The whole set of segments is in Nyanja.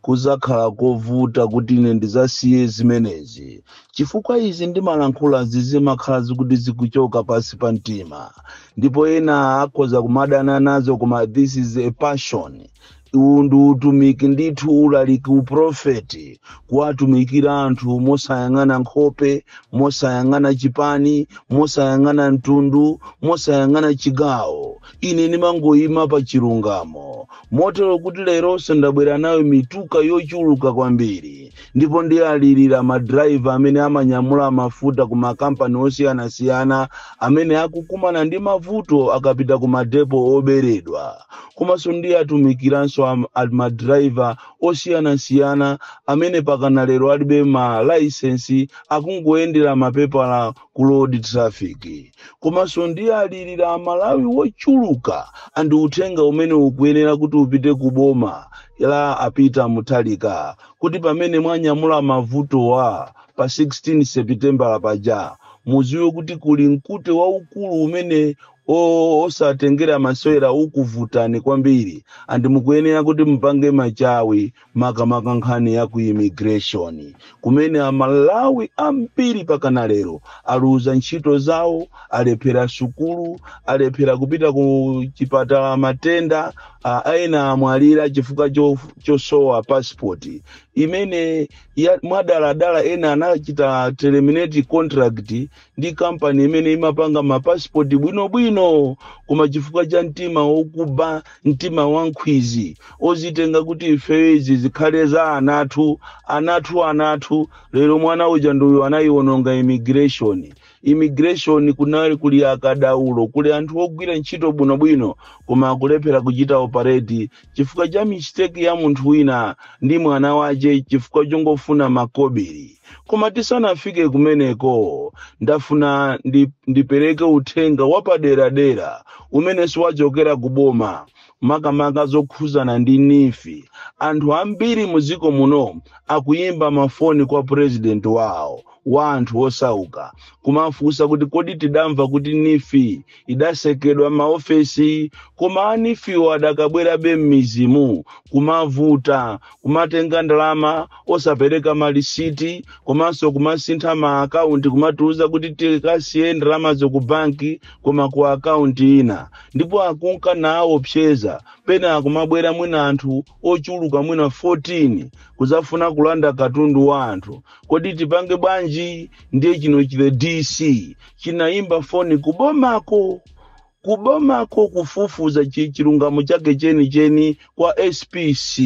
kuzakhala kovuta kuti ine ndizasiye zimenezi chifukwa izi ndimalankhula zimakhala zikuti zikuchoka pansi pa mtima ndipo ena akhoza kumadana nazo koma this is a passion uwu ndi utumiki ndithu ulaliki uprofeti kuwatumikira anthu mosayang'ana nkhope mosayang'ana chipani mosayang'ana mtundu mosayang'ana chigawo Ine ndimangoyima pa chilungamo, motero kuti leronso ndabwera nayo mitu yochuluka kwambiri, ndipo ndiwalirira madrayiva amene amanyamula mafuta ku makampani osiyanasiyana amene akukumana ndi mavuto akapita ku madepo oberedwa, komanso ndiwatumikiranso madrayiva osiyanasiyana amene pakana lero alibe ma layisensi akungoyendera mapepala ku road traffic. komanso ndiwalirira amalawi wochuluka andi uthenga umene ukuyenera kuti upite ku boma la a Peter Mutharika kuti pamene munanyamula mavotiwa pa 16 sepitembala paja muziwe kuti kuli mkute waukulu umene osautengera masewera ukuvutani kwambiri andi mukuyenera kuti mupange machawi makamaka nkhani ya ku immigration kumene amalawi ambiri pakana lero aluza ntchito zawo alephera sukulu alephera kupita ku chipatala matenda ena amwalira chifukwa chosowa passport imene mwadaladala ena anachita terminate contract ndi kampani imene imapanga mapasipoti bwinobwino koma chifukwa cha mtima wokuba mtima wankhwizi ozitenga kuti ifeyo izi zikhale za anathu anathu anathu lero mwana uja ndiye anayiwononga immigration immigration kunali kuli akadaulo kuli anthu ogwira ntchito bwinobwino koma akulephera kuchita operate chifukwa cha mistake ya munthu wina ndi mwana wache chifukwa chongofuna makobiri koma tisanafike kumeneko ndafuna ndipereke uthenga wapaderadera umene wachokera ku boma makamaka zokhuzana ndi NEEF anthu ambiri muziko muno akuyimba mafoni kwa president wawo wa anthu osauka kumafunsa kuti kodi tidamva kuti NEEF idasekedwa maofesi koma a NEEF-wo adakabwerabe m'mizimu kumavuta kumatenga ndalama osapereka malisiti komanso kumasintha ma akaunti kumatiuza kuti tikasiye ndalamazo ku banki koma ku akaunti ina ndipo akunka nawopseza pena akumabwera mwina anthu ochuluka mwina 14 kuzafuna kulanda katundu wa anthu kodi tipange bwanji ndiye chino chi the dc chinayimba foni kubomako kubomako kufufuza chi- chilungamo chake chenicheni kwa spc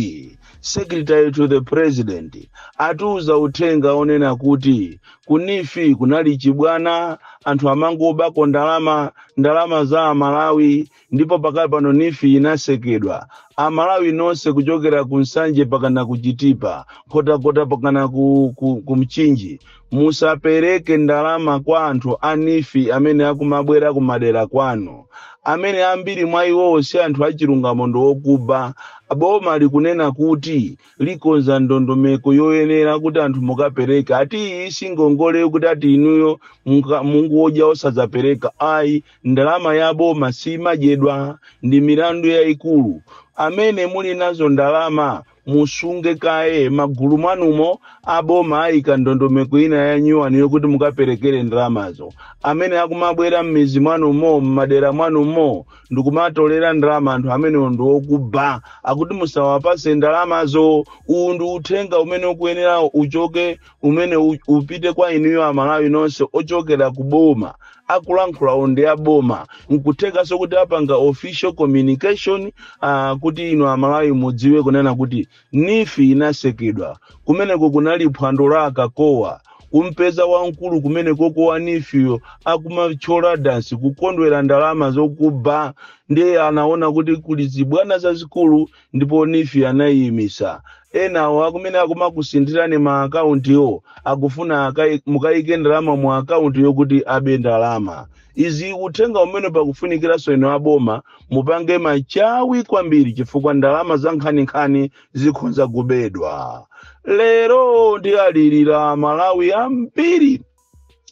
secretary to the president atiuza uthenga onena kuti ku neef kunali chibwana anthu amangobako ndalama ndalama za amalawi ndipo pakali pano neef inasekedwa amalawi nonse kuchokera ku nsanje pakana ku chitipa nkhotakota pakana ku, ku, ku mchinji musapereke ndalama kwa anthu a neef amene akumabwera kumadera kwanu amene ambiri mwa iwowo si anthu achilungamo ndi okuba boma likunena kuti likonza ndondomeko yoyenera kuti anthu mukapereka ati iyi si ngongole yokuti ati inuyo munga- mungodya osadzapereka ayi ndalama ya boma simadyedwa ndi milandu yayikulu amene muli nazo ndalama musunge kaye magulu mwanumo aboma ayika ndondomeko ina ya nyuwani yokuti mukaperekere ndalamazo amene akumabwera m'mizi mwanumo m'madera mwanumo ndikumatolera ndalama anthu amenewo ndi okuba akuti musawapase ndalamazo uwu ndi uthenga umene ukuyenera uchoke umene u- upite kwa inuyo amalawi nonse ochokera ku boma akulankhulawo ndi aboma nkuthekanso kuti apanga official communication uh, kuti inu amalawi mudziwe kunena kuti neef inasekedwa kumeneko kunali phwando la akakowa kumpeza wamkulu kumenekoko wa neefyo akumatchola dansi kukondwera ndalama zokuba ndiye anaona kuti kuli zibwana zazikulu ndipo neef anaiyimitsa enawo akumene akumakusinthirani ma akauntiwo akufuna akai- mukaike ndalama mu akaunti yokuti abe ndalama izi uthenga umene pakufunikiranso inu aboma mupange machawi kwambiri chifukwa ndalama za nkhaninkhani zikhonza kubedwa lero ndialilira amalawi ambiri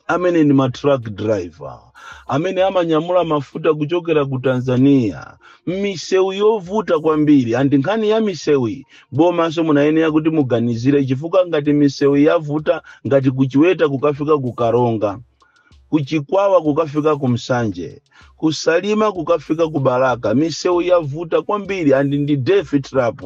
amene ndi ma truck driver amene amanyamula mafuta kuchokera ku tanzania m'misewu yovuta kwambiri andi nkhani ya misewu bomanso munayenera kuti muganizire chifukwa ngati misewu yavuta ngati kuchiweta kukafika ku karonga kuchikwawa kukafika ku nsanje ku salima kukafika ku balaka misewu yavuta kwambiri andi ndi death trap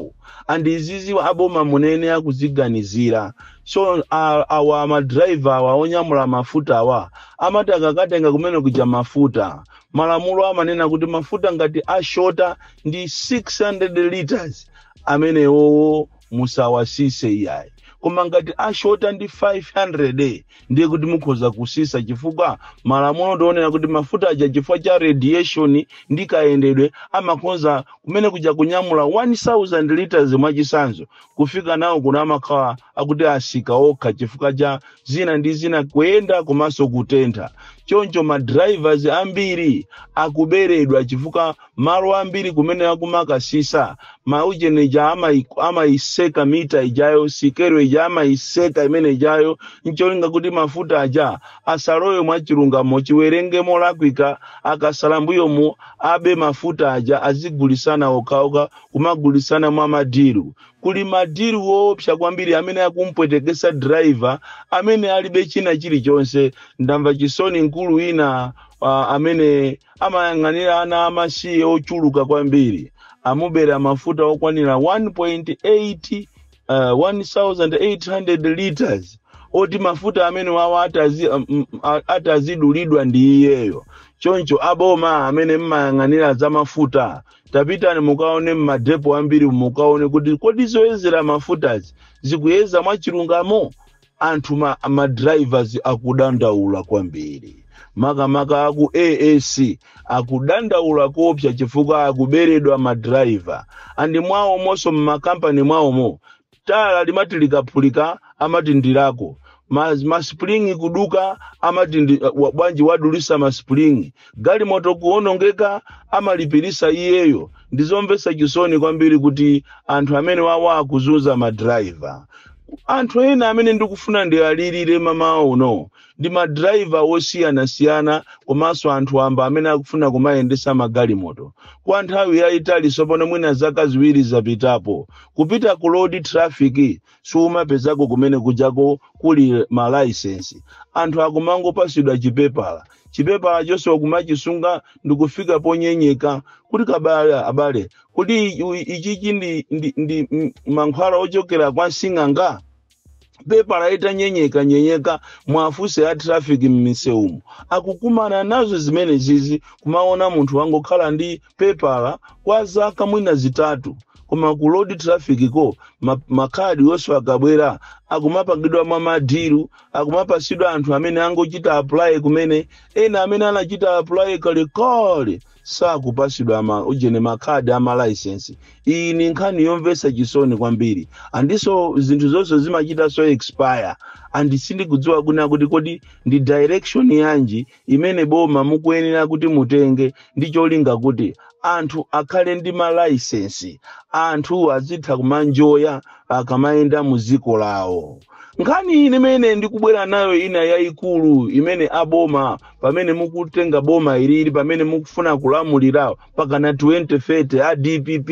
andi izizi aboma munayenera kuziganizira so a- awa madraiva awa onyamula mafuta awa amati akakatenga kumene kuja mafuta malamulo amanena kuti mafuta ngati ashota ndi 600 liters amenewowo musawasise iyayi koma ngati ashota ndi 500 ndiye kuti mukhoza kusisa chifukwa malamulo ndionera kuti mafuta aja chifukwa cha radiation ndi kayendedwe amakhoza kumene kuja kunyamula 1000 liters mwachisanzo kufika nawo kuno amakhala akuti asika okha chifukwa cha zina ndi zina kuyenda komanso kutentha choncho ma drivers ambiri akuberedwa chifukwa Malo ambiri kumene akumakasisa, maujene aja amai- amaiseta mita ijayo, sikelo ija amaiseta imene ijayo, ncholinga kuti mafuta aja asalowe mwa chilungamo, chiwerenge molakwika, akasala mbuyomu abe mafuta aja azigulisana okhaoka, kumagulisana mwa madilu. Kuli madilu woopsa kwambiri amene akumpwetekesa driver amene alibe china chilichonse. Ndamva chisoni mkulu wina ah, amene Amayang'anira ana amasiye ochuluka kwambiri, amubera mafuta okwanira 1.8 uh, 1800 liters oti mafuta amene wawa atazi, um, um, a- atazidulidwa ndi iyeyo choncho aboma amene mmayang'anira za mafuta tapitani mukaone mmadepo ambiri mukaone kuti kodi zoyezera mafutazi zikuyeza mwachilungamo Anthu ma ma drivers akudandaula kwambiri makamaka aku AAC akudandaula koopsa chifukwa akuberedwa ma driver and mwawomonso mmakampani mwawomo tayala limati likaphulika amati ndilako ma, ma spring kuduka amati ndi, wa- bwanji wadulisa ma spring galimoto kuonongeka amalipirisa iyeyo ndizomvesa chisoni kwambiri kuti anthu amene wawa akuzunza madrayiva anthu ena amene ndikufuna ndiwalirire mamawa uno ndi madrayiva osiyanasiyana komanso anthu amba amene akufuna kumayendesa magalimoto kwa nthawi yayitali sopano mwina zaka ziwiri zapitapo kupita ku road traffic siumapezako kumene kujako kuli malaisensi anthu akumangopasidwa chipepala chipepala chonse wakumachisunga ndikufika ponyenyeka kuti abale abale kuti i- i- ichichi ndi, ndi, ndi mm, mankhwala ochokera kwa sing'anga pepala itanyenyeka nyenyeka muwafunse a traffic mmisewumo akukumana nazo zimene zizi kumaona munthu wangokhala ndi pepala kwa zaka mwina zitatu koma ku road traffic ko ma- makhadi onse akabwera akumapangidwa mwa madiru akumapasidwa anthu amene angochita apply kumene ena amene anachita apply kalekale sakupasidwa ma ujene makhadi ama license iyi ni nkhani yomvesa chisoni kwambiri andiso zinthu zonse zimachita so expire and sindikudziwa kunena kuti kodi ndi direction yanji imene boma mukuyenera kuti mutenge ndi cholinga kuti anthu akhale ndi malaisensi anthu azitha kumaenjoya akamayenda mu dziko lawo nkhani imene ndikubwera nayo ina yayikulu imene aboma pamene mukutenga boma ili li pamene mukufuna kulamulira pakana 2030 a dpp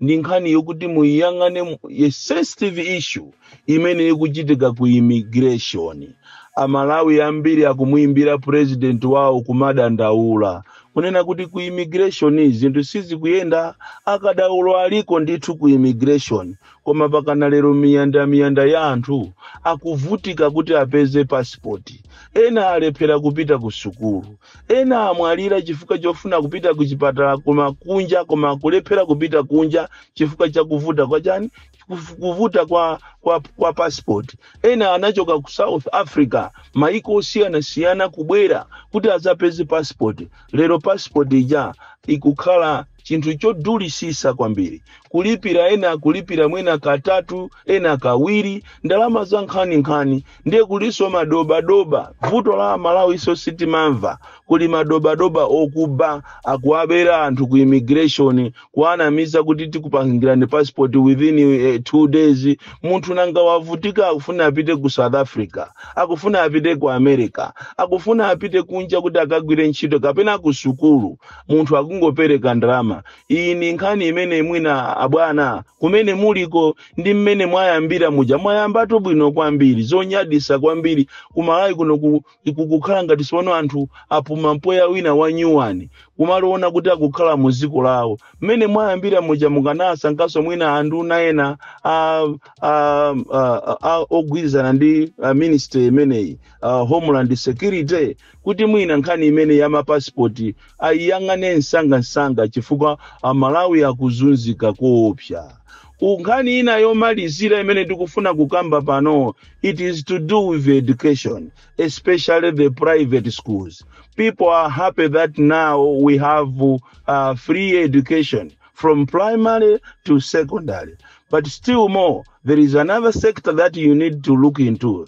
ndi nkhani yokuti muyiyang'ane mu- a sensitive issue imene ikuchitika ku immigration amalawi ambiri akumuimbira president wawo kumadandaula kunena kuti ku immigration zinthu sizikuyenda akadaulo aliko ndithu ku immigration koma pakana lero miyanda miyanda ya anthu akuvutika kuti apeze passport ena alephera kupita ku sukulu ena amwalira chifukwa chofuna kupita ku chipatala koma kunja koma akulephera kupita kunja chifukwa chakuvuta kwa chani kuv- kuvuta kwa, kwa, kwa passport ena anachoka ku south africa maiko osiyanasiyana kubwera kuti adzapeze passport lero passport ija ikukhala chinthu chodulisisa kwambiri kulipira ena akulipira mwina katatu ena kawiri ndalama za nkhaninkhani ndiye kulinso madobadoba vuto la amalawiso sitimamva kuli madobadoba okuba akuwabera anthu ku immigration kuwanamiza kuti tikupangirani passport within eh, two days munthu nanga wavutika akufuna apite ku south africa akufuna apite ku america akufuna apite kunja kuti akagwire ntchito kapena ku sukulu munthu akungopereka ndalama iyi ndi nkhani imene mwina abwana kumene muliko ndi mmene mwayambira muja mwayambatu bwino kwambiri zonyadisa kwambiri kumalawi kuno ku- kukukhala ngati siwuno anthu apuma mpweya wina wanyuwani kumaona kuti akukhala mu dziko lawo mmene mwayambira muja mukanasankanso mwina anduna ena a, a, a, a, a, ogwirizana ndi a ministry imeneyi a, homeland security kuti mwina nkhani imene ya mapassport aiyang'ane msangamsanga chifukwa amalawi akuzunzika koopsa U- nkhani ina yomalizira imene tikufuna kukamba pano it is to do with education especially the private schools people are happy that now we have uh, free education from primary to secondary but still more there is another sector that you need to look into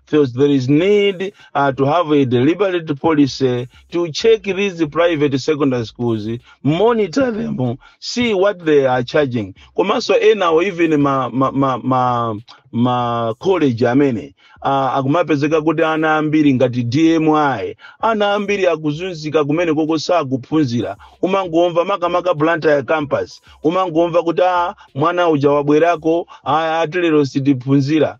So there is need uh, to have a deliberate policy to check these private secondary schools, monitor them, see what they are charging. Komanso ena even ma, ma, ma, ma, ma college amene uh, akumapezeka kuti ana ambiri ngati DMI ana ambiri akuzunzika kumene koko sakuphunzira umangomva makamaka Blantyre campus umangomva kuti ah, mwana uja wabwerako ah, ati lero sitiphunzira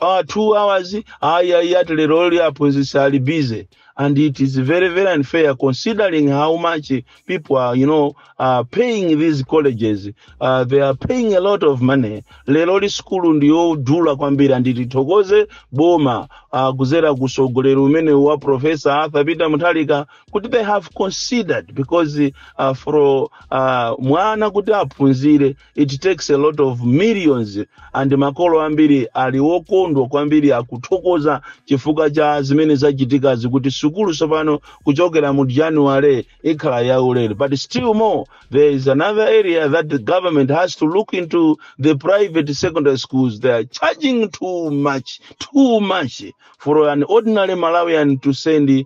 uh, two hours ayi ayi ati lero li aphunzitsi ali busy and it is very very unfair considering how much people are you know are paying these colleges uh, they are paying a lot of money lero li sukulu ndiyodula kwambiri and tithokoze boma uh, kuzera kusogoleri umene wa professor arthur peter mutharika kuti they have considered because uh, for uh, mwana kuti aphunzire it takes a lot of millions and makolo ambiri ali wokondwa kwambiri akuthokoza chifukwa cha zimene zachitikazi kuti sukulu tsopano kuchokera mu january ikhala yaulere but still more there is another area that the government has to look into the private secondary schools they are charging too much too much for an ordinary malawian to send